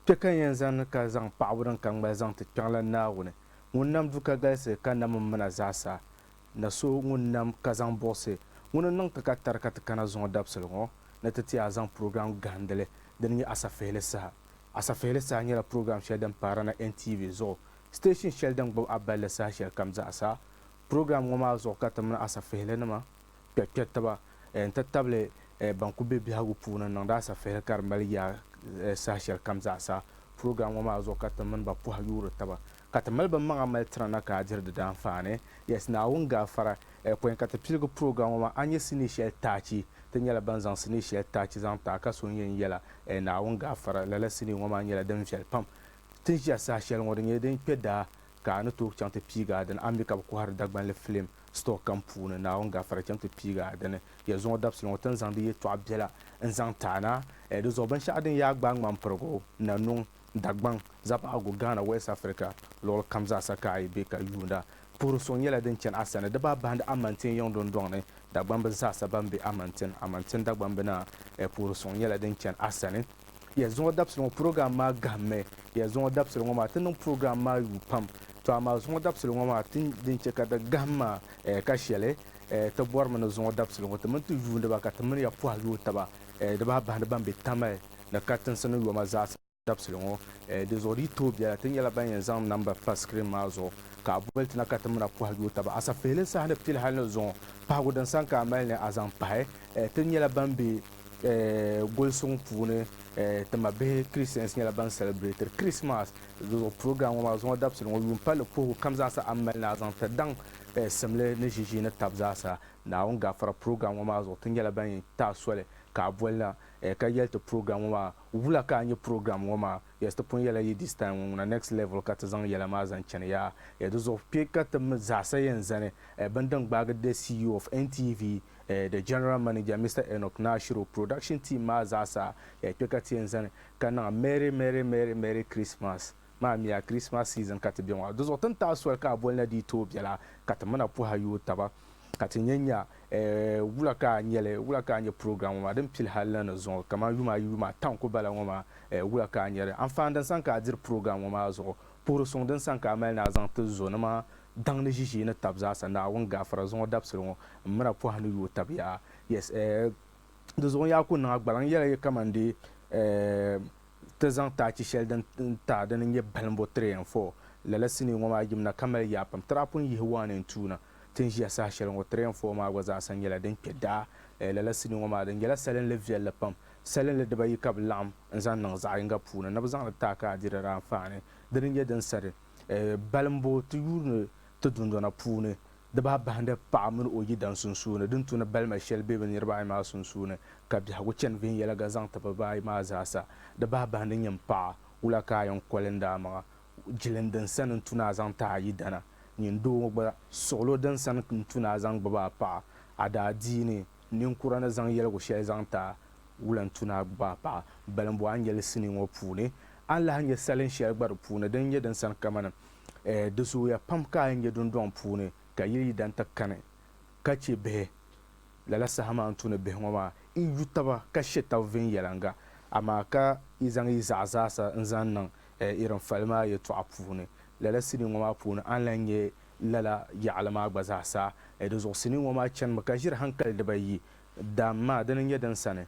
Kpe ka n yɛn zani ka zaŋ paɣibu din ka ŋmali zaŋ ti Kpiɔŋlan Naawuni, ŋun nam du ka galisi ka nam m-mina zaasa, na so ŋun nam ka zaŋ buɣisi ŋuni n-niŋ ti ka tari ka ti kana zuŋɔ dabisili ŋɔ ni ti ti a zaŋ program gahindili din nyɛ Asafihili Saha. Asafihili Saha nyɛla program shɛli din paari na NTV zuɣu Station shɛli din gbubi a balli saha shɛli kam zaɣa saha. Program ŋɔ maa zuɣu ka ti mini asafihili nima kpɛri kpɛri taba n ti tabili ban kuli be biɛhigu puuni n niŋdi asafihili ka di mali yaa saha shɛli kam zaɣa saha. Program ŋɔ maa zuɣu ka ti mini ba pɔhi yuuri taba ka ti mali ba maŋa mali tira na ka a diri di daanfaani. Yes Naawuni gaafara pɔi ka ti piligi program ŋɔ maa a nyɛ sinii shɛli taachi ti nyɛla ban zaŋ sinii shɛli taachi zaŋ taai ka so n yɛn yɛla Naawuni gaafara lala sinii ŋɔ maa nyɛla din viɛli pam Ti ni ʒiya saha shɛli ŋɔ di nyɛla din kpe daa ka a ni tooi chaŋ ti piigi a dini. A ni mi ka bɛ kɔhiri Dagbanli filim sitɔɔ kam puuni. Naawuni gafara chaŋ ti piigi a dini. Ya zuŋɔ dabisili ŋɔ ti ni zaŋdi yɛtɔɣ biɛla n-zaŋ ti a na. Ɛɛ di zuɣu binshɛɣu din yaa gbaai ŋmampirigu, nanuŋ, Dagbaŋ, Zapaɣigu, Ghana, West Africa luɣili kam zaa sa ka a yi be ka yuunda, puhiri suŋ nyɛla din chani a sani. Di baa bahindi Amantin yiŋ dundɔŋ ni dagbamb zaa sa ban be Amantin, Amantin dagbambina, ɛɛ puhiri suŋ nyɛla din chani a sani. Ya Zuŋɔ Dabisili ŋɔ purogiram maa gahimmi. Ya Zuŋɔ Dabisili ŋɔ maa ti niŋ purogiram maa yuui pam. Tɔ amaa Zuŋɔ Dabisili ŋɔ maa ti din chɛ ka di gahim maa eh ka shɛli eh ti bɔrimi ni Zuŋɔ Dabisili ŋɔ ti mini ti yuuniba ka ti mini ya pɔhi yooi taba eh di bahi bahindi ban be Tamale ni katinsi ni yoma zaasa dabisili ŋɔ eh di zuɣu di yi tooi bela ti nyɛla ban yɛn zaŋ number pa screen maa zuɣu ka a boli ti na ka ti mina pɔhi yooi taba asafihili saha ni pili hali ni Zuŋɔ pahigu din sani ka a mali ni a zaŋ pahi eh ti nyɛla ban be gulisiŋ puuni ti mabihi Christians nyɛla ban celebrate Christmas zuɣu program ŋɔ maa zuŋɔ dabisili ŋɔ yuun palli puhigu kam zaasa a ni mali ni a zaŋ ti daŋ simli ni ʒiʒii ni tab zaasa Naawuni gafara program ŋɔ maa zuɣu ti nyɛla ban yɛn ti a soli ka a boli na ka yɛli ti program ŋɔ maa wula ka a nyɛ program ŋɔ maa yes ti pun yɛla yi this time ŋɔ ŋuna next level ka ti zaŋ yɛla maa zaŋ chani yaa di zuɣu kpe ka ti mi zaasa yɛn zani bini din gbaagi the CEO of NTV the General Manager Mister Enoch Nashiro, production team maa zaasa kpe ka ti yɛn zani ka niŋ Merry Merry Merry Merry Christmas maa miya Christmas season ka ti be ŋɔ di zuɣu tin taai soli ka a boli na di yi tooi bela ka ti mina puhi a yooi taba ka ti nya nya wula ka a nyɛli wula ka a nya program ŋɔ maa din pili hali na ni zuŋɔ kamani yuma ayi yuma ata n-kuli bala ŋɔ maa wula ka a nyari anfaani din sani ka a diri program ŋɔ maa zuɣu puhiri suŋ din sani ka a mali ni a zaŋ ti zo ni maa daŋ ni ʒiʒii ni tab zaasa Naawuni gaafara zuŋɔ dabisili ŋɔ m-mira pɔha ni yooi tab yaa. Yes, eh, di zuɣu n yaa kuli niŋ a gbaliŋ yɛla yi kaman di eh, ti zaŋ ti achi shɛli din taai dini n-nyɛ balimbo three and four. Lala sinii ŋɔ maa yimina ka mali yaa pam. Tiri a pun yihi one and two na ti ni ʒiya saha shɛli ŋɔ, three and four maa gba zaasa nyɛla din kpe daa. Eh, lala sinii ŋɔ maa di nyɛla salinli viɛlli pam. Salinli dibayi ka bɛ laɣim n-zaŋ niŋ zaɣ yiŋga puuni ni bɛ zaŋ li taai ka a di diri anfaani. Dini n-nyɛ din sa di. Balimbu ti yuuri ni ti dundɔna puuni, di bahi bahindi paɣa mini o yidana sunsuuni, din tu ni balima shɛli be bɛ niriba ayi maa sunsuuni, ka biɛhigu chani viɛnyɛliga zaŋ ti bɛ ayi maa zaasa. Di bahi bahindi nyini paɣa, wula ka a yɛn koli n-di a maŋa? Jilin din sani n-tu ni a zaŋ ti a yidana. Nyini doo ŋɔ gba, suɣilo din sani n-tu ni a zaŋ gbibi a paɣa, a daadiini. Ninkura ni zaŋ yɛligu shɛli zaŋ ti a wulantuna gbaai paɣa balimbɔ a ni yɛli sinii ŋɔ puuni. A ni lahi nya salin shɛli gba di puuni din nyɛ din sani kamani, Ɛɛ, di zooya pam ka a yi nya dundɔŋ puuni ka yili yi dan ti kani ka chɛ bihi lala saha maa ni tuuni bihi ŋɔ maa, yi yu taba ka she tab viɛnyɛliŋga, amaa ka yi zaŋ yi zaɣa zaasa n-zaŋ niŋ, ɛɛ, irin fali maa yɛtɔɣa puuni. Lala sinii ŋɔ maa puuni a ni lahi nya Lala yaɣili maa gba zaa sa, di zuɣu sinii ŋɔ maa chanimi ka ʒiri hankali diba yi, Daam maa, dini n-nyɛ din sani,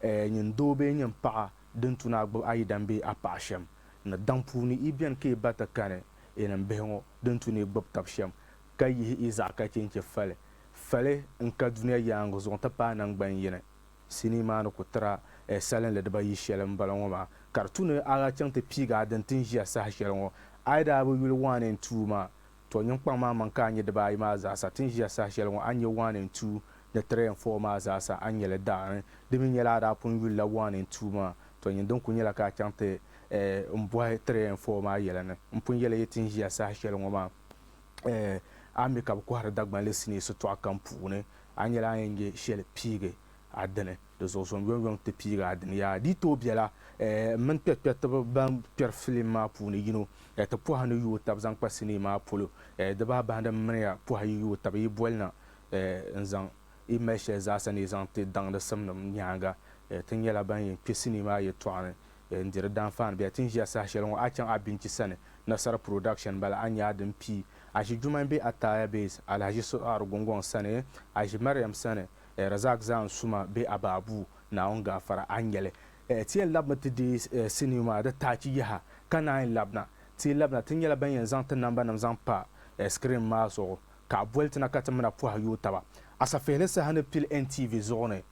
ɛɛ nyin doo bee nyin paɣa din tu ni a gbubi a yidam bee a paɣa shɛm, ni daŋ puuni yi beni ka yi ba ti kani yi nim bihi ŋɔ din tu ni yi gbubi tab shɛm, ka yihi yi zaɣa ka che n-che fali, fali n-ka dunia yaaŋa zuɣu n-ti paai naŋgban yini. Sinii maa ni ku tira eh salinli dibayi shɛli m-bala ŋɔ maa, ka di tu ni a daa chaŋ ti piigi a din ti ni ʒiya saha shɛli ŋɔ. A yi daa bi yuli waani n-tuui ma, tɔ nyiŋkpaŋ maa maŋ ka a nya dibaayi maa zaasa ti ni ʒiya saha shɛli ŋɔ, a ni nya waani n-tuui ni tiri n fɔɔ maa zaasa a ni nya li daani. Di mi nyɛla a daa pun yulila waani n-tuui ma, tɔ nyin din ku nyɛla ka a chaŋ ti eh m-bɔhi tiri n fɔɔ maa yɛla ni m pun yɛli yi ti ni ʒiya saha shɛli ŋɔ maa. A mi ka bɛ kɔhiri Dagbanli sinii sitɔɣu kam puuni, a ni yɛli a ni yɛn nya shɛli piigi a dini, di zuɣu zuŋ yɔŋyɔŋ ti piigi a dini. Yaa di yi tooi bela, m mini kpɛrikpɛritiba ban kpɛri filim maa puuni yino ti pɔha ni yooi taba zaŋ kpa sinii maa polo. Di baa bahindi m mini ya pɔha yi yooi taba yi boli na n zaŋ yi mali shɛli zaasa ni yi zaŋ ti daŋdi simnim nyaaŋa. Ti nyɛla ban yɛn kpe sinii maa yɛltɔɣa ni bɛ ni diri daanfaani bɛ ti ni ʒiya saha shɛli ŋɔ a chaŋ a binchi sani Nasara Production m-bala a nya a din pii a ʒi Jumain bee Ataya Base Alahaji Suɣaari Gungɔŋ sani a ʒi Mariam sani eh Razak Zaan Suma bee Abaabuu Naawuni gaafara a nyɛli eh ti yɛn labimi ti deei eh sinii maa di taachi yaha ka naanyi labina ti yi labina ti nyɛla ban yɛn zaŋ ti nambanima zaŋ pa eh screen maa zuɣu ka a boli ti na ka ti mi na pɔhi yooi taba asafihili saha ni pili NTV zuɣu ni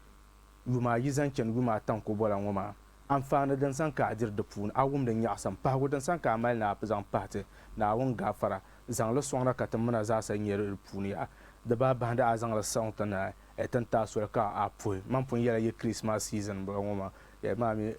Yuma ayi zaŋ chani yuma ata n ku bola ŋɔ maa. Anfaani din sani ka a diri di puuni, a wum di nyaɣisim. Pahigu din sani ka a mali ni a zaŋ pahi ti, Naawuni gaafara, zaŋ li sɔŋda ka timmuna zaasa nyɛ di puuni yaha. Di baa bahindi a zaŋ li sɔŋ ti ni a tin taai soli ka a puhi. Mani pun yɛla yi Kirismas season m-bɔŋɔ ŋɔ maa, yɛli maa mi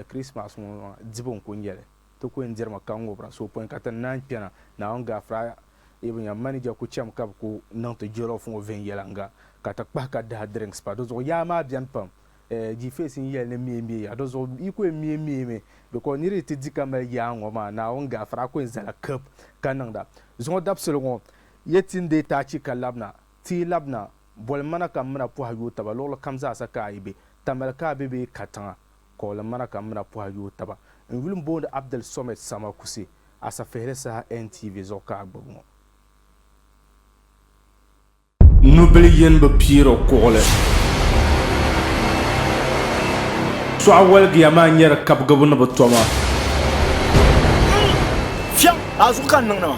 Kirismas ŋɔ maa dibu n-kuli nyɛ li. Ti ku yɛn dirimi ka ŋubira suhupini ka ti naanyi kpɛna. Naawuni Gaafara Ibn Yam Manija ku chɛmi ka bɛ ku niŋ ti jollof ŋɔ viɛnyɛliŋga ka ti kpahi ka daha drinks pa di zuɣu. Yaa maa beni pam. Eh, G-Face n yɛli ni miei miei ya di zuɣu. Yi ku yɛn miei miei mi because niriba yi ti di ka mali yaa ŋɔ maa Naawuni Gaafara a ku yɛn zala kib ka niŋda. Zuŋɔ dabisili ŋɔ, ya ti ni deei ti achi ka labina, ti yi labina, boli m mana ka m mina pɔhi yooi taba luɣili kam zaasa ka a yi be, tamali ka a be bee katiŋa. Kɔɔli ŋmana ka mina pɔha yooi taba. N yuli m-booni Abdel Somed Sama Kuse, Asafehili saha NTV zuɣu ka a gbubi ŋɔ. Nubila yin bi piiri kuɣili. Sɔɣu waligiya maa nyari kabigibu ni bi toma. Fiɛɣu a zuɣu ka n niŋdi ma.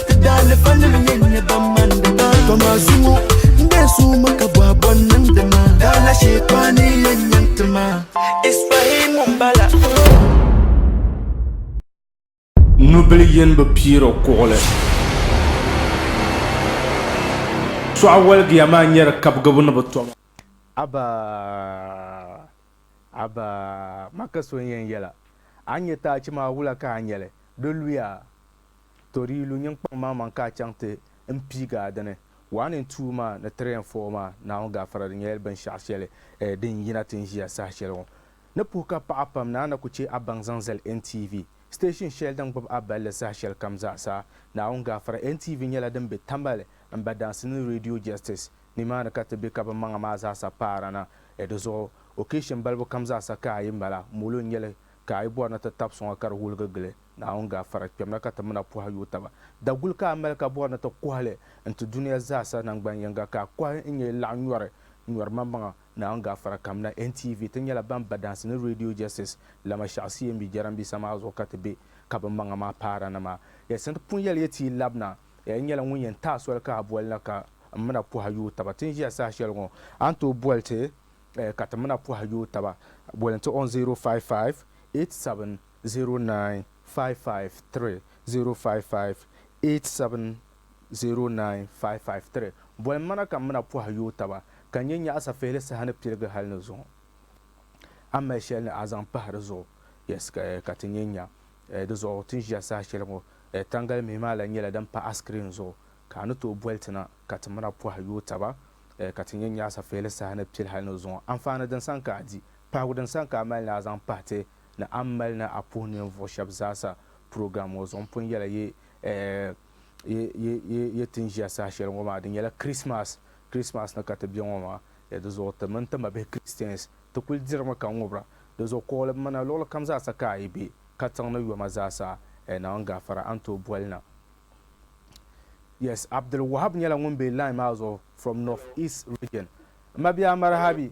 Nubili yini bi piiri o kuɣili. Suɣa waligiya maa nyɛri kabigibu ni bi toma. Abba Abba ma ka so n yɛn yɛla a ni nyɛ taachi maa wula ka a nyɛli di luya. To di yi lu nyiŋkpaŋ maa maŋ ka a chaŋ ti n piigi a dini, waa ni n tuui maa ni tiri yɛn foo maa Naawuni gaafara di nyɛla binshɛɣu shɛli din yina ti n ʒiya saha shɛli ŋɔ. Ni puhi ka paɣa pam ni a na ku chɛ a baŋ zaŋ zali NTV, station shɛli din gbubi a balli saha shɛli kam zaa sa. Naawuni gaafara NTV nyɛla din be Tamale, Mbadansi ni Radio Justice ni maa ni ka ti be ka bɛ maŋa maa zaa sa paara na. Di zuɣu occasion balibu kam zaa sa ka a yi mali a, molo n-nyɛ li ka a yi bɔri ni ti tabi suŋa ka di wuligi gili. Naawuni gaafara kpɛmna ka ti mina pɔhi yooi taba. Daguli ka a mali ka bɔri ni ti kɔhi li n-ti dunia zaa sa naŋgban yiŋga ka a kɔhi n-nyɛ yi laɣim nyɔri nyɔri maŋmaŋa Naawuni gaafara kamina NTV ti nyɛla ban ba dansi ni Radio Justice lama shɛɣu CMB jarambisa maa zuɣu ka ti be ka bi maŋa maa paara ni maa yɛlisi n-ti pun yɛli ya ti yi labina ya yi nyɛla ŋun yɛn taai soli ka a bɔli na ka n mina pɔhi yooi taba ti ni ʒiya saha shɛli ŋɔ a ni tooi bɔli ti ka ti mina pɔhi yooi taba bɔli n-ti on 055 87 095530558709553 Boli m mana ka m mina pɔhi yooi taba, ka n nyɛ nyaɣisa fihili saha ni pirigi hali ni zuŋɔ a mali shɛli ni a zaŋ pahi di zuɣu, yes, ka ti nyɛ nya di zuɣu ti ni ʒiya saha shɛli ŋɔ. Tangali mihi maa lahi nyɛla din pa a screen zuɣu, ka a ni tooi boli ti na ka ti mina pɔhi yooi taba, ka ti nyɛ nyaɣisa fihili saha ni piri hali ni zuŋɔ. Anfaani din sani ka a di, pahigu din sani ka a mali ni a zaŋ pahi ti ni a ni mali ni a puhi ninvuɣ shɛb zaasa program ŋɔ zuɣu. M pun yɛla yi eeh yi ti ni ʒiya saha shɛli ŋɔ maa, di nyɛla Christmas, Christmas ni ka ti be ŋɔ maa. Ya di zuɣu ti mini ti mabihi Christians ti kul dirimi ka ŋubira. Di zuɣu kuɣili m mana luɣili kam zaasa ka a yi be, katiŋ ni yoma zaasa, eh Naawuni n gaafara a ni tooi boli na. Yes, Abdul Wahab nyɛla ŋun be line maa zuɣu from North East Region. M mabia Marhabi.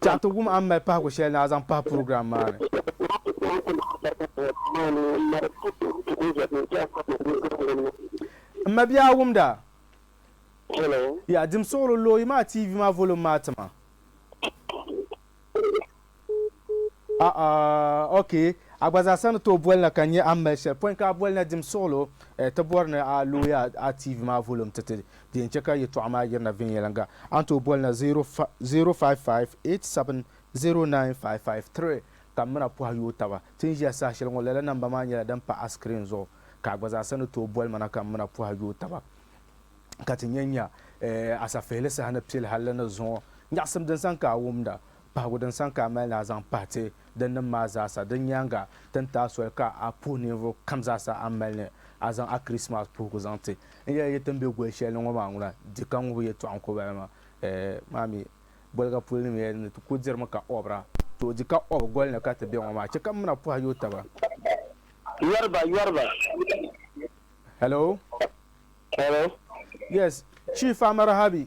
Tɛha ti wum a ni mali pahigu shɛli ni a zaŋ pahi purogiram maa ni. M ma bia a wumda? Yaa dim suɣulo looyi maa TV maa volum maa ti ma. A'a ok a gba zaa sa ni tooi boli na ka n nya a ni mali shɛli pɔin ka a boli na dim suɣulo ti bɔri ni a looyi a TV maa volum ti ti Di yɛn chɛ ka yɛtɔɣa maa yirina viɛnyɛliŋga. A ni tooi boli na 055870955 ka m mi na pɔhi yooi taba. Ti ni ʒiya saha shɛli ŋɔ, lala namba maa nyɛla din pa a sikirin zuɣu ka a gba zaa sa ni tooi boli ma na ka m mi na pɔhi yooi taba ka ti nya nya a safihili saha ni piɛli hali li ni zuŋɔ. Nyaɣisim din sani ka a wumda. Pahigu din saŋ ka a mali ni a zaŋ pahi ti din nim maa zaasa. Di nyaaŋa, ti ni taai soli ka a puhi ninvuɣ kam zaasa a ni mali ni a zaŋ a Kirismas puhigu zaŋ ti. N yɛli yi ti ni be goli shɛli ni ŋɔ maa ŋuna, di ka ŋubi yɛtɔɣ n-ku ba la maa. Ɛɛ, maa mi, boliga polo ni mi yɛli ni ti ku dirimi ka ɔbira. Too, di ka ɔbu goli ni ka ti be ŋɔ maa. Chɛ ka m mina puhi a yooi taba. Yɔri ba, yɔri ba. Hello? Hello? Yes, Chief Amarahabi,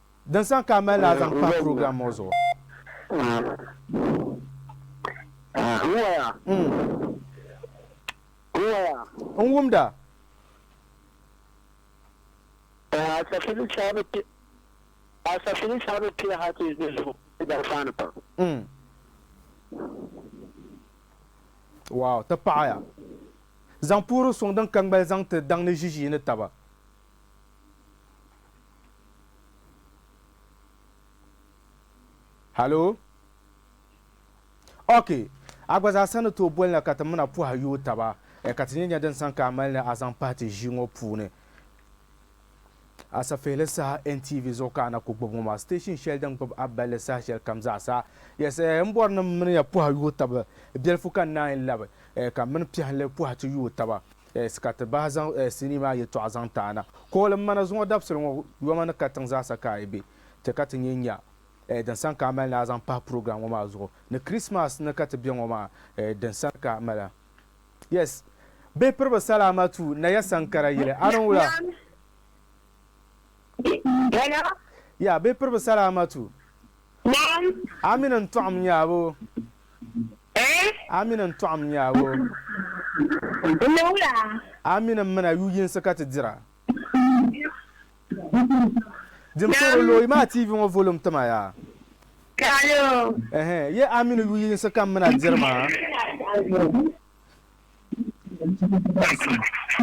Din san ka a mali la a zaŋ kpahi program ŋɔ zuɣu. N wumda. Wow ti paɣaya. Zaŋ puhiri suŋ din ka ŋmali zaŋ ti daŋ ni ʒiʒiyi ni taba. Halo? Ok, a gba zaa sa ni tooi boli na ka ti mina pɔha yooi taba, eh, ka ti nyɛ nya din san ka a mali ni a zaŋ pahi ti ʒii ŋɔ puuni. A safihili saha NTV zuɣu ka a na ku gbubi ŋɔ maa, station shɛli din gbubi a balli saha shɛli kam zaa sa. Yes, eh, m bɔri ni m mini ya pɔha yooi taba, biɛlifu ka n naanyi labi, eh, ka m mini piɛhili pɔhi ti yooi taba. S ka ti bahi zaŋ S sinii maa yɛtɔɣa zaŋ ti a na. Kuɣili m ma na zuŋɔ dabisili ŋɔ yoma ni katiŋ zaasa ka a yi be ti ka ti nyɛ nya din sani ka a mali ni a zaŋ pahi program ŋɔ maa zuɣu ni Christmas ni ka ti be ŋɔ maa din sani ka a mali Yes Bihi piri bi salaama tu na ya sankara yili a ni wula Hello Yeah Bihi piri bi salaama tu Naam Amina n tɔɣim nya boo. Eh? A mini n tɔɣim nyaago. N ni wula? A mini m mina yu yinsi ka ti dira. Dim suhiri lo yi maa TV ŋɔ volum tima ya. Kalo. Eh, ye a mini yu yinsi ka m mina diri maa?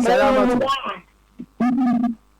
Salamatu.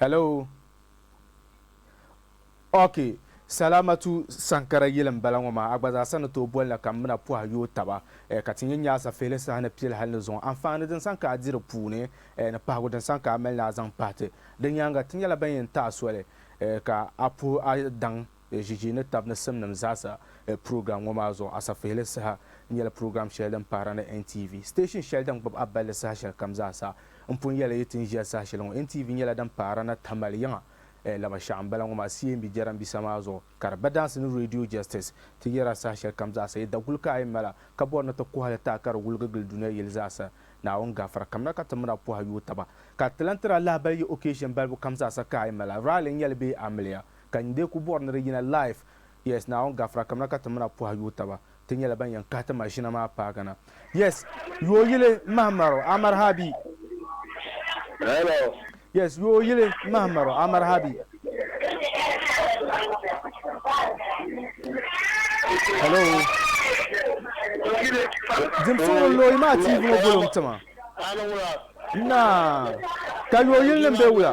Hello Ok Salamatu Sankara yili n bala ŋɔ maa a gba zaa sa ni tooi boli na ka m mina pɔhi yooi taba eh, ka ti nya Nyaasa fihili saha ni pili hali ni zuŋɔ anfaani din san ka a di di puuni eh, ni pahigu din san ka a mali ni a zaŋ pahi ti. Di nyaaŋa ti nyɛla ban yɛn tahi soli eh, ka a puhi a daŋ. Ʒiʒii ni tab ni simnim zaɣisa purogiram ŋɔ maa zuɣu asafihili saha nyɛla purogiram shɛli din pahira ni NTV, siteeshin shɛli din gbubi a balli saha shɛli kam zaɣisa. N pun yɛli yi ti ni ʒiya saha shɛli ŋɔ, NTV nyɛla din pahira na Tamale yiŋa laba shɛɣu m-bala ŋɔ maa CMB jɛrambisa maa zuɣu ka di badansi ni Radio Justice ti yɛra saha shɛli kam zaɣisa. Yi daguli ka a yi mali a ka bɔri ni ti kuhi li taai ka di wuligi gili dunia yili zaɣisa, Naawuni gafira kamina ka ti mini a pɔhi yooi taba ka ti lan tiri a lahibali yi occasion balibu kam zaɣisa ka a yi mali a rally nyɛli bee amiliya Ka n dee ku bɔri ni di yina live. Yes Naawuni gafira kamina ka ti mina pɔhi yooi taba ti nyɛla ban yɛn kahi ti maʒina maa paagi na. Yes Yoo yili m mahi maro a marhabi. Hello. Yes Yoo yili m mahi maro a marhabi. Hello. Dim suɣili n looyi maa TV ŋɔ volum tima. Naa. Ka Yoo yili nim be wula?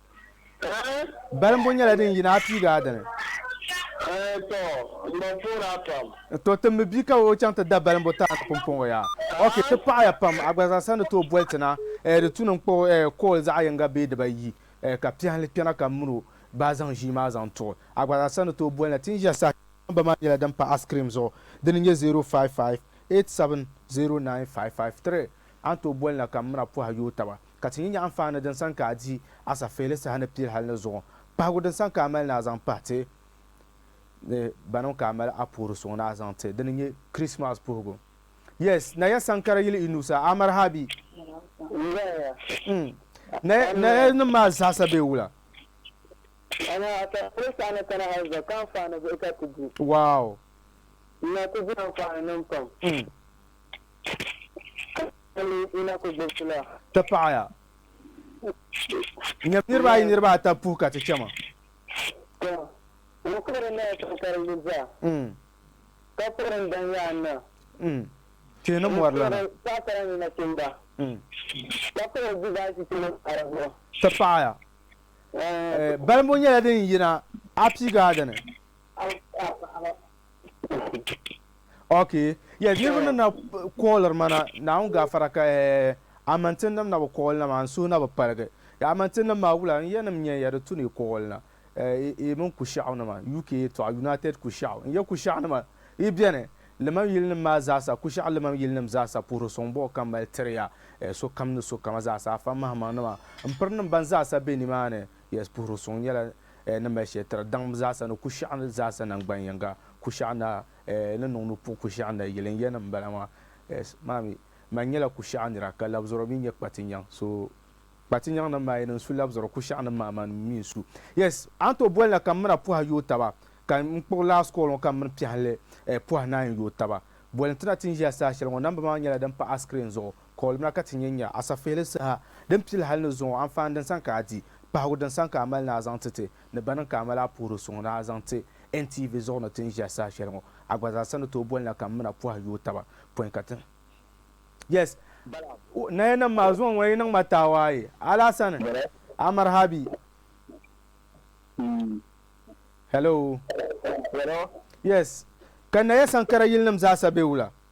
Balimbu nyɛla din yina a piiga a dini. To ti mi bia ka o chaŋ ti da balimbu tana ni pumpɔŋɔ ya. Ok, ti paɣiya pam. A gba zaa sa ni tooi boli ti na, di tu ni n kpuɣi call zaɣ yiŋga bee diba yi ka piɛhili kpɛna ka m min o baa zaŋ ʒii maa zaŋ tuɣi. A gba zaa sa ni tooi boli na. Ti ni ʒiya saha shɛli namba maa nyɛla din pa a screen zuɣu. Di ni nyɛ 055870955 tiri. A ni tooi boli na ka m min a pɔhi a yooi taba. Ka ti nya nyaɣimfaani din san ka a di asafeeli saha ni pili hal ni zuɣu pahigu din san ka a mali ni a zaŋ pahi ti ni banim ka a mali a puhiri suŋ ni a zaŋ ti di ni nyɛ Krismas puhigu. Yes, na ya sankara yili i nuu sa, a mari ha bi? N-ŋ-ŋ. Na ya nim maa zaasa bee wula? Amaa asafeeli saha ni kana hal zuɣu ka anfaani bihi ka ti di. Wow! N-na ti di anfaani nim pam. Ti paɣiya. Nyam niriba ayi niriba ata puhi ka ti chɛma. Tihi ni mɔri lana. Ti paɣiya. Balibu nyɛla din yina Apigaadini. Ok ya niriba nim na kooliri ma na naawuni gaafara ka amantin nim na bi kooli na maa n suhu na bi paligi ya amantin nim maa wula n ya nim nyɛ ya di tu ni kooli na yi mini kushaɣu nima UK yɛtɔɣa United kushaɣu n ya kushaɣu nima yi bɛni liman yili nim maa zaasa kushaɣu liman yili nim zaasa puhiri sɔŋ bɔɣu ka mali tiri ya sokam ni sokama zaasa afa mahimaŋ nima n piri nim ban zaasa bɛ ni maa ni Yes, puhiri suŋ nyɛla eh, ni mali shɛli tiri daŋm zaasa ni kushiɛɣu ni zaasa nangban yiŋga. Kushiɛɣu naa eh, ni niŋ ni puhi kushiɛɣu na yili n-yɛn ni m-bala maa. Yes, maa mi, man nyɛla kushiɛɣu nira, ka labizɔro mi nyɛ kpatinyaŋ. So, kpatinyaŋ nim maa yi niŋ su labizɔro, kushiɛɣu nim maa man mi n-su. Yes, a ni tooi boli na ka m mini a puhi a yooi taba, ka m kpuɣi last call ŋɔ ka m mini piɛhili eh, puhi naayi n-yooi taba. Boli n-ti na ti ni ʒiya saha shɛli ŋɔ, namba maa nyɛla din pa a screen zuɣu. Kɔɔlimina ka ti nyɛ nya asafeeli saha din pili hali ni zuŋɔ anfaani din sani ka a di, pahigu din sani ka a mali ni a zaŋ ti ti, ni bɛ niŋ ka a mali a puhiri suŋ ni a zaŋ ti NTV zuɣu ni ti ni ʒiya saha shɛli ŋɔ. A gba zaa sa ni tooi bolina ka m-mina pɔhi yooi taba pɔi ka ti Yes, nayanim maa zuŋɔ ŋuna yi niŋ ma taawaaye Alaasani Amarhabi Hello Yes, ka naya sankara yilinim zaa sa be wula?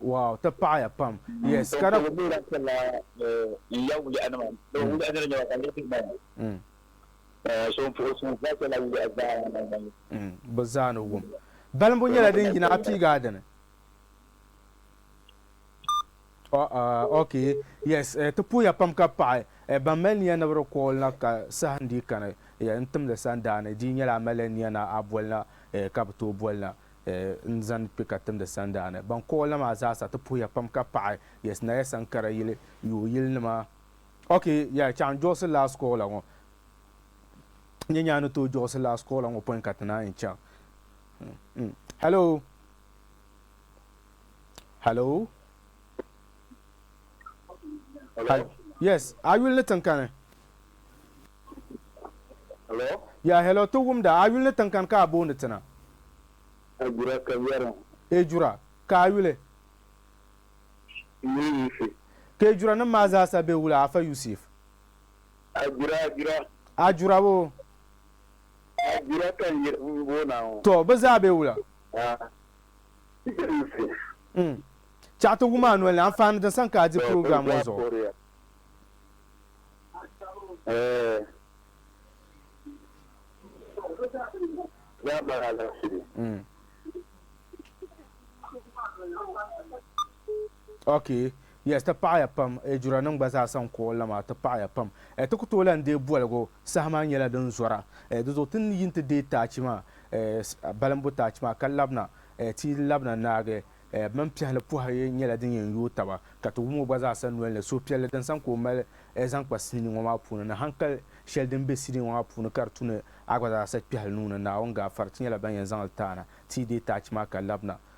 Wow ti paɣiya pam yes ka di bi zaa ni wum balibu nyɛla din yina a piigaa dini. Uh, uh, okay. Yes, uh, ti puya pam ka paɣi uh, ban mali niya ni bi di kool na ka sahin di kani uh, n timdi sandaani di nyɛla a mali niya na a boli na uh, ka bi tooi boli na uh, n zani kpe ka timdi sandaani ban kool na maa zaasa ti puya pam ka paɣi yes naya sankara yili yoo yili nima okay yeah chaŋ jɔɣisi last call la ŋɔ nyɛ nyaa ni tooi jɔɣisi last call la ŋɔ pɔin ka ti naan chaŋ mm, mm. hello Hello. Hello. Yes, a yuli ni tinkani. Hello. Ya hello ti wumda a yuli ni tinkani ka a booni tina. Ejura ka yɛri. Ejura ka a yuli. Yuli yisi. Ka ejura nim maa zaasa be wula Afa Yusuf? Ajura ajura. Ajura wo. Ajura ka n boona ŋɔ. To bi zaa be wula? Chaɣ ti wum a noli ni anfaani din sani ka a di program ŋɔ zuɣu. Okay. Yes ti paɣiya pam e jura nim gba zaasa n ku o la maa ti paɣiya pam e ti ku tooi lan deei boligu saha maa nyɛla din zɔra e di zuɣu ti ni yi ti deei taachi maa e balimbu taachi maa ka labina e ti yi labina naagi e bɛ mini piɛhili pɔhiri nyɛla din yɛn yooi taba ka ti wum o gba zaasa noli ni suhupiɛlli din sani ka o mali e zaŋ kpa sinii ŋɔ maa puuni ni hankali shɛli din be sinii ŋɔ maa puuni ka di tu ni a gba zaasa kpɛhili nuu ni Naawuni gaafara ti nyɛla ban yɛn zaŋ li taana ti yi deei taachi maa ka labina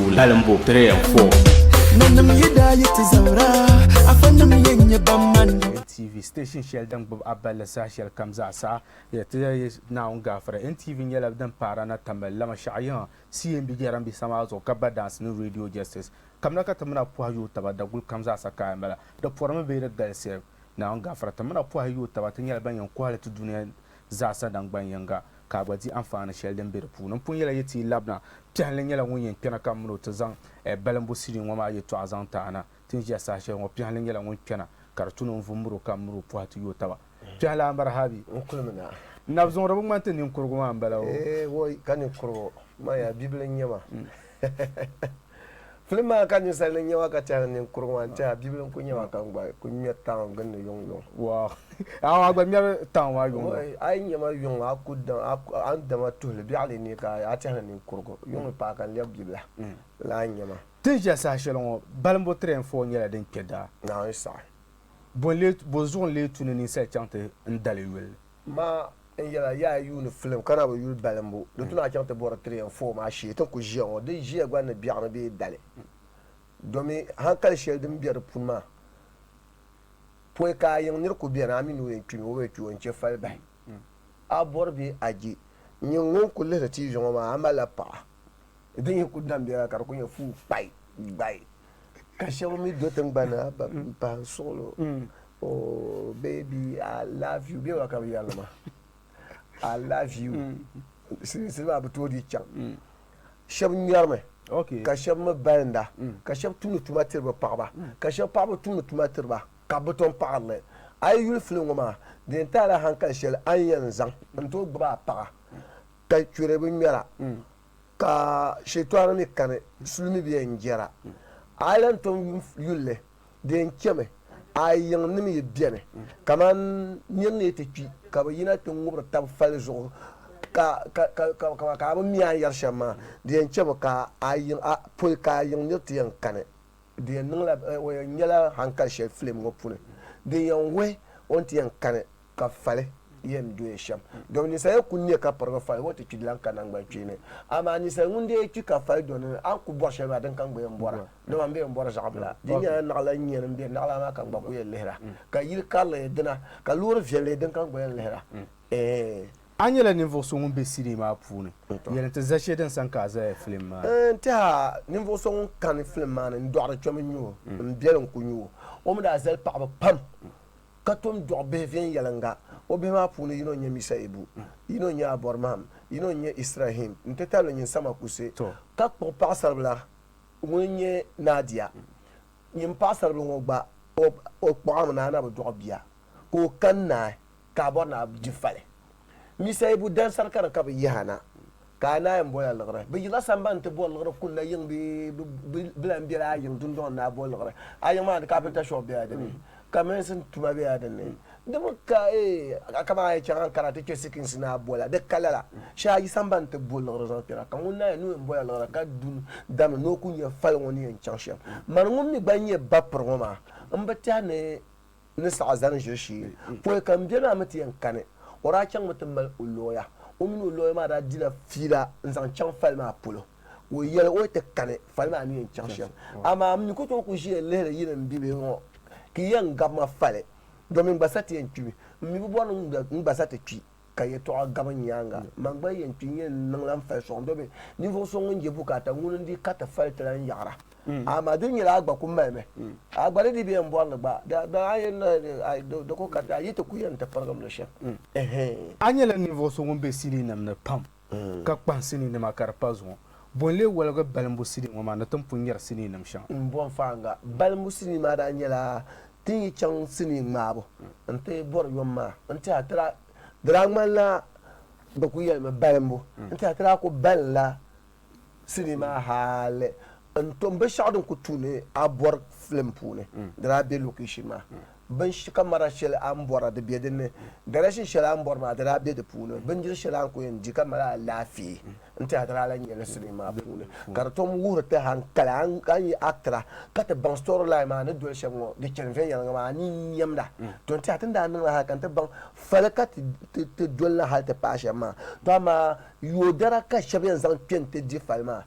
Lalim bo 3 and 4. Nanim yi daa yi ti zabira, afa nim yɛn nyɛ ban mani. NTV, Station shɛli din gbubi a balli saha shɛli kam zaa saha ya ti ya ya Naawuni gaafara. NTV nyɛla din paara na tamali lama shɛɣu yiŋa CMB jɛrambisa maa zuɣu ka ba daansi ni Radio Justice. Kamina ka ti mini a pɔhi yooi taba daguli kam zaa sa ka a mala. Di pɔrimi bee di galisiya? Naawuni gaafara ti mini a pɔhi yooi taba ti nyɛla ban yɛn kɔhili ti dunia zaasa nangban yiŋga, ka a gba di anfaani shɛli din be di puuni. M pun yɛla yi ti yi labina, Piɛhilli nyɛla ŋun yɛn kpɛna ka m mini o ti zaŋ Balimbu sinii ŋɔ maa yɛtɔɣa zaŋ ti a na. Ti ni ʒiya saha shɛli ŋɔ, Piɛhilli nyɛla ŋun kpɛna ka di tu ni o ni vum miri o ka m miri o pɔhi ti yo taba. Piɛhilli a maraha bɛ? N kuli mi na. Nabizuŋuri bi ŋmani ti ninkurigu maa m-bala o? Eei, wooi ka ninkurigu, man yaa bibila n-nyɛ ma. Filim maa ka ninsal ni nyɛma ka tɛha ni ninkur ŋɔ n tɛha bibili n ku nyɛma ka n gba ku ŋmɛri town gin ni yuŋ yuŋ. Wow. Yaa waa gba ŋmɛri town maa yuŋ yuŋ. A yi nyɛma yuŋ a ku a ni dama tuhili biɛɣili ni ka a tɛha ni ninkurigu yuŋ ni paai ka n lɛbi bibila lahi nyɛma. Tin ʒiya saha shɛli ŋɔ balimbu train four nyɛla din kpɛ daa. Naawuni saha. Bɔ n lee, bɔ zuɣu n lee tu ni ninsal chaŋ ti n dali yuli? Ma n yɛla yaa yuuni filim ka na bi yuli balimbu di tuna chaŋ ti bɔri tiri yɛn foo maa shee ti ni ku ʒiya ŋɔ. Di ʒiya gba ni biɛɣu ni bee dali domi hankali shɛli din be di puni maa pɔi ka a yiŋ nir ku beni a mi ni o yɛn kpimi o bi kpi o n-chɛ fali bahi a bɔri bee a je. Nyin ŋun ku lihiri tiivi ŋɔ maa a malila paɣa? di yi ku dam biɛla ka di ku nyɛ fuu kpai gbai ka shɛba mi do tiŋgbani ha ba n pahi n suɣilo o baby I love you bɛ wa ka bi yɛri li ma I love you silimiinsi maa bi tooi di chaŋ shɛba ŋmɛri mi Okay. ka shɛba mi balinda ka shɛba tumdi tuma tiri bi paɣaba ka shɛba paɣaba tumdi tuma tiri ba ka bi tom paɣiri li a yi yuli filim ŋɔ maa di yɛn taala hankali shɛli a ni yɛn zaŋ n tooi gbubi a paɣa Ka churi bi ŋmɛra, ka Shɛtɔɣu mi kani suli mi bɛ yɛn jɛra. A yi lan tom yuŋ yulli, di yɛn chɛmi a yiŋ ni mi yi beni, kaman nir ni yi ti kpi ka bɛ yina ti ŋubiri tab fali zuɣu ka ka bɛ mi a ni yɛri shɛm maa, di yɛn chɛmi ka a yiŋ poi ka a yiŋ nir ti yɛn kani. Di yɛn niŋla o yɛn nyɛla haŋkali shɛli filim ŋɔ puuni din yɛn wuhi o ni ti yɛn kani ka fali yɛn dɔya shɛm. Dɔmi ninsal ya ku ne ka pirigi fali ŋɔ ti kpi di lan ka naŋgbankpeeni. Amaa ninsal ŋun dee kpi ka fali dɔni ni, a ni ku bɔri shɛli maa, din ka n-gba yɛn bɔra. Dama m be yɛn bɔri zaɣibila. Di nyɛla naɣila n-nyɛ ni m be naɣila maa ka n-gba ku yɛn lihira. Ka yil karili nyɛ dina, ka loori viɛlli din ka n-gba yɛn lihira. Eeh! A nyɛla ninvuɣ so ŋun be CD maa puuni. Yɛli nti za shee din sani ka a zaya filim maa ni? Eeh! Tɛha! Ninvuɣ so ŋun kani filim maa ni n-dɔɣiri kpɛm n-nyɛ o. M biɛli n-ku nyu o. O mi daa zali paɣiba pam. ka tom dɔɣi bihi viɛnyɛliŋga, o bihi maa puuni yino n-nyɛ Misaibu, yino n-nyɛ Abɔrmam, yino n-nyɛ Israhim nti tabili nyin Sama Kuse, ka kpuɣi paɣisaribila ŋun nyɛ Nadia. Nyin paɣisaribila ŋɔ gba, o kpuɣimi ni a na bi dɔɣi bia, ka o kani naai ka a bɔri ni a jifali. Misayibu dansar kara ka bɛ yihi a na, ka a naai m-bol a liɣiri. Bɛ yila sambani nti bɔri liɣiri kul la yiŋ bee bɛ lan bela a yiŋ dundɔŋ ni a boli liɣiri. A yiŋ maa ni kapinta shop bela di ni, ka meesin tuma bela di ni. Di mi ka a kaman a yi chaŋ Ankara ti kpe sikinsi ni a bol a, di ka lala. Shee a yi sambani nti bo liɣiri zaŋ kpɛra, ka ŋun naai n-niŋ o ni bol a liɣiri ka du damli ni o ku nya fali ŋɔ ni yɛn chaŋ shɛm. Mani ŋun mi gba nyɛ bapir ŋɔ maa, m bi tɛha ni ni saɣi zani ʒiri shee pɔi ka m beni a mi ti yɛn kani. O daa chaŋmi ti mali o lɔya. O mini o lɔya maa daa dila fiila n-zaŋ chaŋ fali maa polo. Ka o yɛli o ni ti kani fali maa ni yɛn chaŋ shɛm. Amaa m mi ku tooi ku ʒiya lihiri yi ni m-bibihi ŋɔ ka yi yɛn gabi ma fali domin gba sa ti yɛn kpimi. M mi bi bɔri ni n gba sa ti kpi. ka yɛtɔɣa gabi n nyaaŋa. Man gba yɛn kpi n-yɛn niŋ la m-fali sɔŋ domi ninvuɣ so ŋun je bukaata ŋuni n-di ka ti fali ti lan yaɣira. Amaa di ni nyɛla a gba ku malimi. A gba di di bɛ yɛn bɔri li gba. Dama a yɛn nahi ni a do do ko kariti a yi ti ku yɛn ti pirigim li shɛm. A nyɛla ninvuɣ so ŋun be sinii nam ni pam. ka kpahi sinii nima ka di pa zuŋɔ. Bo n-lee woligi balimbu sinii ŋɔ maa ni ti ni pun nyari sinii nim shɛŋa? M bo n faaŋa, balimbu sinii maa daa nyɛla ti ni yi chaŋ sinii ŋmaabu n-ti bɔri yom maa n-ti a ti daa, di daa ŋmanila bɛ kul yɛlimi balimbu n-ti a ti daa kul balinla sinii maa hali n-tom binshɛɣu din kul tuui ni a bɔri filim puuni di daa be location maa binsh kamara shɛli a ni bɔra di be din ni, garishini shɛli a ni bɔri maa di daa be di puuni, bindiri shɛli a ni kul yɛn di ka mali alaafee n-ti a di daa lan nyɛ li sinii maa puuni. Ka di tom wuhiri ti hankali a ni a ni yi Accra ka ti baŋ storyline maa ni doli shɛm ŋɔ di chani viɛnyɛliŋga maa a ni yi nyɛmda tɔ n-ti a ti ni daa niŋla hali ka ni ti baŋ fali ka ti ti ti doli li hali ti paai shɛm maa tɔ amaa yoodara ka shɛba yɛn zaŋ kpe n-ti di fali maa.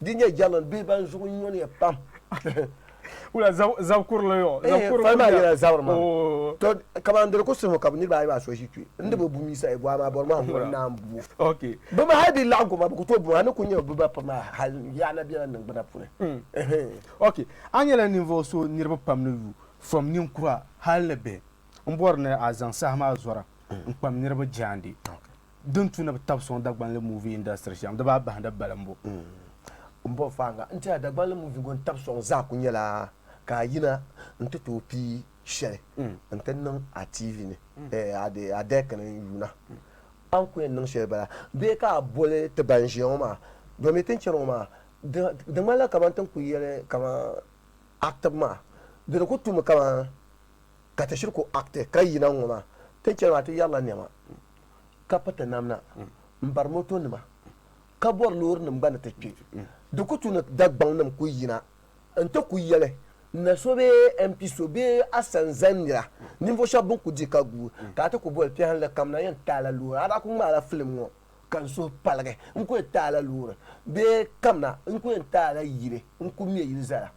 Di nyɛ German bihi ban zuɣu nyɔniya pam. Wula zab kurili yo? Eh, fali maa yɛla zabiri maa. Oh. To, kaman di di ku suhu ka bi niriba ayi maa so ʒi kpe. N di bi bu Yisa e gɔa maa bɔri maa ŋun naan bu o. Ok. Bi mi hali bi laɣim goma bi ku tooi bu a ni ku nyɛ bi ba pam maa hal yaɣa na biɛla niŋgbuna puuni. Mm. Ehem. Ok, a nyɛla ninvuɣu so niriba pam ni yu fam ninkura hal ni bihi. N bɔri ni a zaŋ saha maa zɔra n kpam niriba jaande. Ok. din tu ni bi tabi sɔŋ Dagbanli movie industry shɛm di baa bahindi balimbu. M bɔbi faaŋa n ti a Dagbanli movie ŋɔ ni tabi sɔŋ zaa ku nyɛla ka a yina n ti tooi pii shɛli n ti niŋ a TV ni a dɛk ni n yuuna. A ni ku yɛn niŋ shɛli bala bee ka a boli ti ban ʒiya ŋɔ maa domi ti ni chani ŋɔ maa di ŋmanila kaman ti ni ku yɛli kaman active maa di ni ku tumi kaman ka ti shiri ku acti ka yina n-ŋɔ maa ti ni chani maa ti yɛrila nɛma. ka piriti namda m-bari motonima ka bɔri loorinima gba ni ti kpe. Di ku tu ni Dagbaŋnim ku yina nti ku yɛli na so bee MP so bee Asanzan nira ninvuɣ shɛb bɛn ku di ka guui ka a ti ku boli piɛhindili kam na yɛn ti a la loori. A daa ku ŋmaai la filim ŋɔ ka n suhu paligi. N ku yɛn ti a la loori bee kam na n ku yɛn ti a la yili n ku me yili zali a.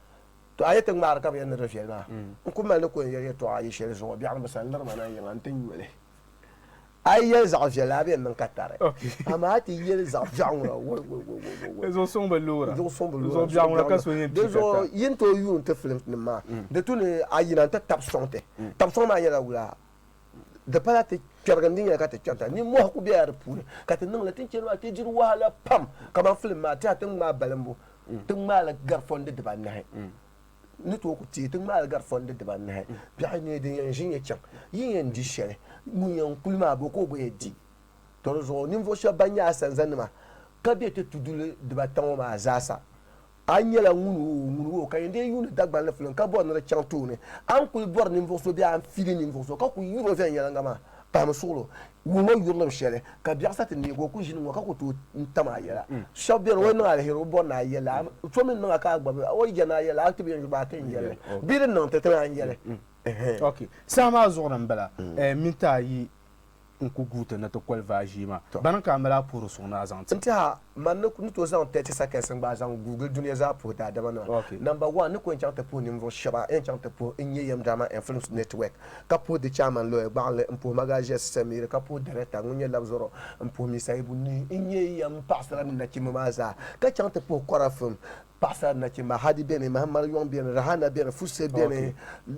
Tɔ! A ni ti ŋmaari ka bɛ yɛn ni di viɛli maa, n ku mali ni ku yɛn yɛli yɛtɔɣa ayi shɛli zuɣu biɛɣuni bi sani liri ma na yiŋa nti nyo li. A yi yɛli zaɣ viɛlli a bi yɛn niŋ ka tari, amaa a ti yɛli zaɣ biɛɣu ŋuna woi woi woi woi woi woi. Di zuɣu suŋ bi loora. Di zuɣu suŋ bi loora. Di zuɣu biɛɣu ŋuna ka so yɛn kpi ka tari. Di zuɣu yi ni tooi yuun ti filimsinim maa, di tu ni a yina nti tab sɔŋ ti. Tab sɔŋ maa nyɛla wula? Di pala ti kpɛrigi n-di nyɛli ka ti kpɛrita. Nimmɔhi ku bela di puuni ka ti niŋ li. Ti ni chani maa ti diri wahala pam. Kamani filim maa, tɛha ti ni ŋmaai balimbu, ti ŋmaai li gari fɔndi dibaa anahi. ni tooi ku teei ti ŋmaali gari fɔndi dibaanahi. Biɛɣu nyee din yɛn ʒi nya chaŋ, yin yɛn di shɛli. Ŋun yɛn kuli maa, bɔ ka o gba yɛn di? Tɔ di zuɣu ninvuɣ shɛb bɛn nyɛ a sanzannima ka be ti tuduli dibata ŋɔ maa zaasa, a ni nyɛla ŋun wo o, ŋun wo o ka yɛn deei yuuni Dagbani filiŋ ka bɔri ni di chaŋ tooni. A ni kul bɔri ninvuɣ so bee a ni fiili ninvuɣ so ka ku yuri o viɛnyɛliŋga maa, Pahimi suɣulo wum ŋɔ yurilim shɛli ka biɛɣu sa ti neeg o ku ʒini ŋɔ ka ku tooi n tam a yɛla. Shɛb beni o yi niŋ aliheri o bɔri ni a yɛli a, so mi niŋ a ka a gbabi o yi jɛni a yɛli a, a ti bi yɛn gbabi a ti n yɛli bee din niŋ ti ti lan yɛli. Ok, saha maa zuɣu ni m-bala minti ayi n-ku guui ti ni ti koli vaa ʒii maa. Bani ka a mali a puhiri suŋ ni a zaŋ ti? N-tiɛha Man ni ni tooi zaŋ tɛɛti sakɛs n gbaai zaŋ guugili dunia zaa puhi daadama nima. Namba wan, n ni ku yɛn chaŋ ti puhi ninvuɣu shɛba yɛn chaŋ ti puhi N Nyɛ Yɛm Drama and Films Network, ka puhi di chairman Lɔya Gbaɣinli, n puhi Magaziɛ Sisamiri, ka puhi director ŋun nyɛ Labzɔrɔ, n puhi Misayibu Nii, n nyɛ yɛm paɣasara ni nachimba maa zaa, ka chaŋ ti puhi Kɔra Film. Paɣasara nachimba, Hadi beni, Mahamar yɔŋ beni, Rahana beni, Fusse beni,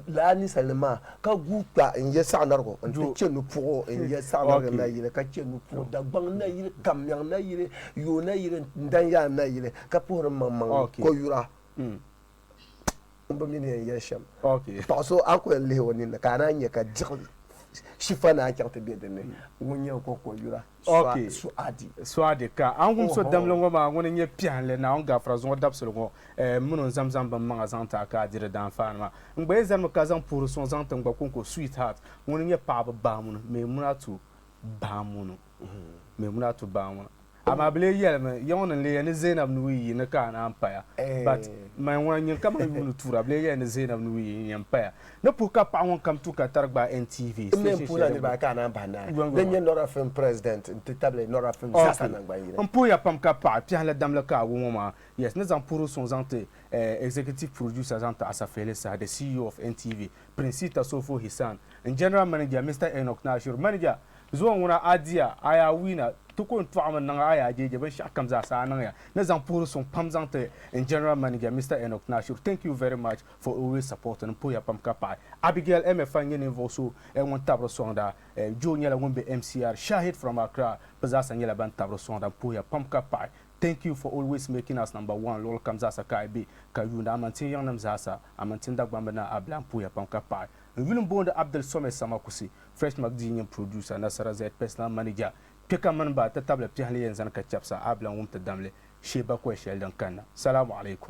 lala ninsalinim maa ka guui kpa n ya saɣinarigu n-ti chɛ nupuɣu n ya saɣinarigu nayili ka chɛ nupuɣu Dagbaŋ nayili, Kammiɛŋ nayili, Yoo nayili n-dan ya n nayili ka puhiri m maŋmaŋ ni koyura m bi mi ni yɛn yɛli shɛm. Paɣ so a ni ku yɛn lihi o ninni ka a naan nya ka diɣi shifa naan chaŋ ti be dinni, ŋun nyɛ n ko koyura. Suadi ka a ni wum so damli ŋɔ maa ŋuni n-nyɛ piɛhilli Naawuni gaafira zuŋɔ dabisili ŋɔ, m min o n-zaŋm zaŋ bimmaŋa zaŋ ti a ka a di di daanfaanima. N gba yi zanimi ka zaŋ puhiri suŋ zaŋ ti n gba kɔŋko Sweetheart ŋuni n-nyɛ paɣaba baamuni Memunatu baamuni Memunatu baamuni Amaa bɛ lee yɛlimi yiŋɔ ni n-leeya ni Zainab ni wii yi ni ka a naan paya But man ŋuna nyin ka man yuuni tuura bɛ lee yɛli ni Zainab ni wii yi n-yɛn paya Ni puhi ka paɣa ŋun kam tu ka tari gbaai NTV station shɛli din be Okay n puhiya pam ka paɣa kpɛhi la damli ka a gu ŋɔ maa yes ni zaŋ puhiri suŋ zaŋ ti eh executive producer zaŋ ti Asafehli Saha the CEO of NTV Princey Tasofo Hisan n general manager Mister Enoch Naashiru manager zuwa ŋuna a diya a yaa wiina ti ko n tɔɣi mi niŋ a yaa jeeje binshɛɣu kam zaa sa a niŋya ni zaŋ puhiri suŋ pam zaŋ ti n general manager Mister Enoch Naashiru thank you very much For always supporting n pooya pam ka paɣi Abigail Emefa n nyɛ ninvuɣu so ŋun tabiri soŋda Joe nyɛla ŋun be MCR Shahid from Accra bɛ zaasa nyɛla ban tabiri soŋda n pooya pam ka paɣi Thank you for always making us number one luɣili kam zaasa ka ayi be ka yuuni Amantin yiŋnim zaasa Amantin Dagbamb Naa Abila n pooya pam ka paɣi n yuli n boondi Abdul Somed Samakusi Fresh Magazine nyini producer Nasara Zed personal manager kpe ka mini ba ti tabili piɛhi ni yɛn zani ka chɛbisa Abila n wum ti damli shee bakɔi shɛli din kanna Salamu alaikum